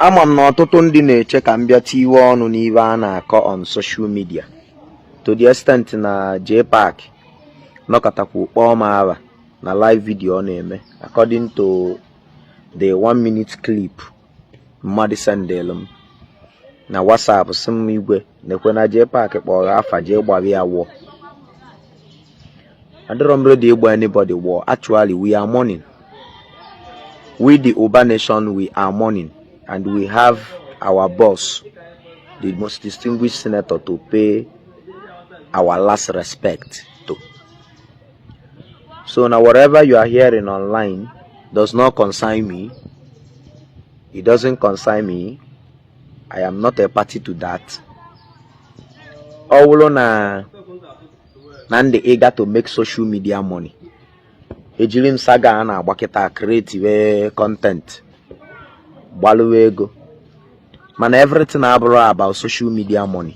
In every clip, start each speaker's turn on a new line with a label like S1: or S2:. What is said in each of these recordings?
S1: ama m na ọtụtụ ndị na-eche ka m bịa tiwe ọnụ n'iwe a na-akọ on social media to the extent na JPAC nọkatakwa kpọọ m afa na live video ọ na-eme according to the one minute clip mmadụ sendịlụ m na WhatsApp sị m igwe nekwe na JPAC kpọrọ afa jee gbara ya wụọ adịrọ m ready ịgba anybody wụọ actually we are mourning we the Ubah nation we are mourning and we have our boss the most distinguished senator to pay our last respect So now whatever you are hearing online does not concern me. It doesn't concern me. I am not a party to that. Ọ bụrụ na m dị eager to make social media money ejiri m saga a na-agba kịta creatiwe content gbalụwa ego mana everything abụrọ about social media money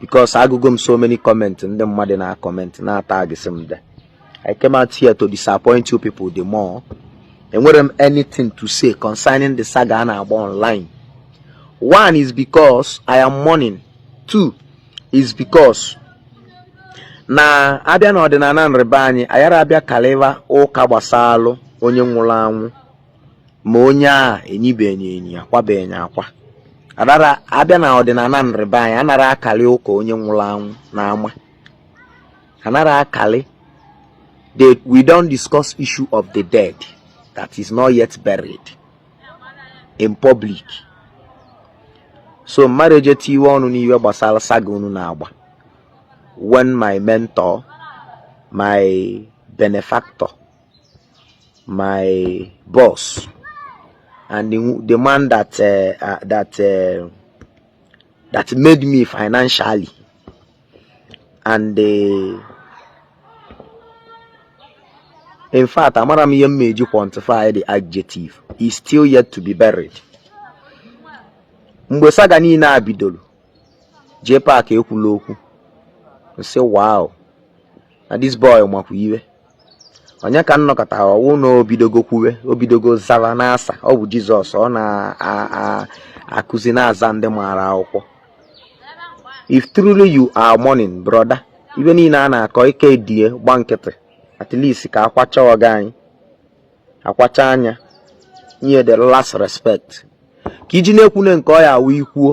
S1: because agụgo m so many comment ndị mmadụ na-acomment na-atagịsị m there I came out here to disappoint you people the more enwerọ m anything to say concerning the saga a na-agba online one is because I am mourning two is because na a bịa n'ọdịnala ndị be anyị ayara abịa kalịva ụka gbasalụ onye nwụrụ anwụ ma onye a enyibenye enyi akwabenye akwa adara abịa n'ọdịnala ndị be anyị anara akalị ụka onye nwụrụ anwụ n'ama anara akalị that we don't discuss issue of the dead that is not yet buried in public so mmadụ eje tiwe ọnụ n'iwe gbasara saga unu na-agba when my mentor my benefactor my boss and the, the man that uh, uh, that uh, that made me financially and uh, in fact amara m ihe m meji quantify the adjective is still yet to be buried mgbe saga niile a bidoro JPAC ekwula okwu m sị wow na this boy makwa iwe onye ka m nọkata hụ na o bidogo kwuwe o bidogo zara n'asa ọ bụ jizọs ọ na-akụzi na-aza ndị maara akwụkwọ if truly you are mourning brother iwe niile a na-akọ ị ka-edie gba nkịtị at least ka akwacha ọga anyị akwachaa ya nye the last respect ka iji na-ekwune nke ọ ya-awụ i kwuo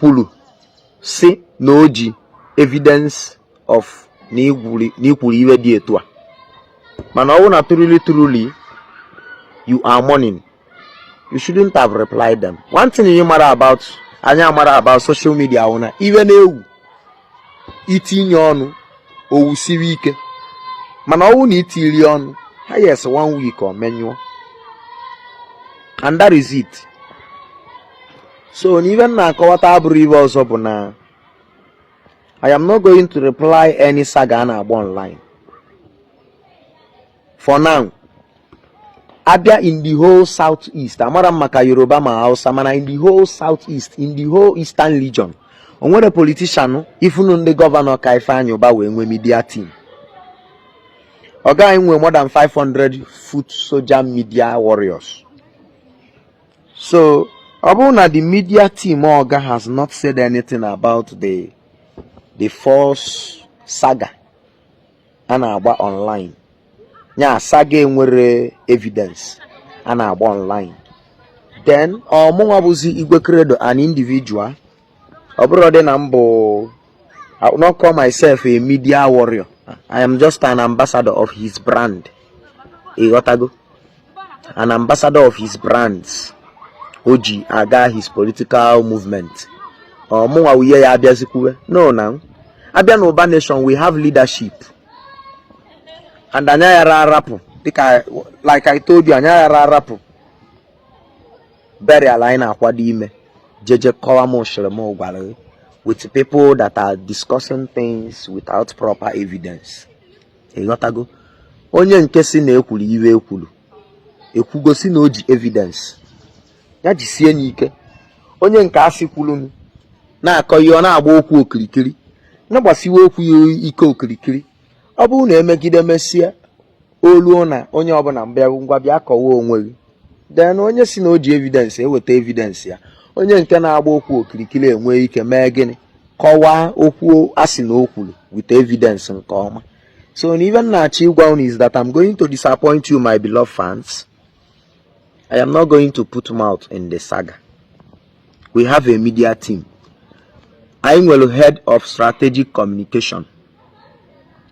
S1: kwuru si na o ji evidence of na i kwuru ive dị etu a mana ọwụ na truly truly you are mourning you shouldn't have replied them one thing ị mara about anyị mara about social media wụ na ive na-ewu itinye ọnụ o wusiri ike mana ọwụ na itirọ ọnụ highest one week ọ menyụọ and that is it so na ive m na-akọwata abụrọ ive ọzọ bụ na I am not going to reply any saga a na-agba online for now abịa in the whole south east amarọ m maka yoruba ma hausa mana in the whole south east in the whole eastern region o nwerọ politician even ndị governor ka Ifeanyi Uba wee nwee media team ọga anyị nwee more than 500 foot soldier media warriors so ọ bụrụ na the media team oga has not said anything about the the false saga a na-agba online ya saga enwerọ evidence a na-agba online then ọmụnwa bụzi Igwe Credo an individual ọ bụrọdị na m bụ I will not call myself a media warrior. I am just an ambassador of his brand. ịghọtago an ambassador of his brands o ji aga his political movement ọmụnwa wuye ya abịazi kwuwe no now abịa na Ụba nation we have leadership and anyị ayara arapụ dịka like I told you anyị ayara arapụ burial anyị na-akwado ime jeje kọwa m shiri m gwara with people that are discussing things without proper evidence ịghọtago onye nke si na ekwuru ive ekwuru ekwugo si na o ji evidence ya jisie ya ike onye nke asị kwuru na-akọ ihe ọ na-agba okwu okirikiri na-agbasiwe okwu ya ike okirikiri ọ bụrụ na emegide mesịa o luo na onye ọbụla mbịa ngwa bịa kọwa onwe gị then onye si na o ji evidence eweta evidence ya onye nke na-agba okwu okirikiri enwee ike mee gịnị kọwaa okwu a sị na o kwuru with evidence nke ọma so na ive m na-achọ ịgwa unu is that I'm going to disappoint you my beloved fans I am not going to put mouth in the saga we have a media team anyị nwere head of strategic communication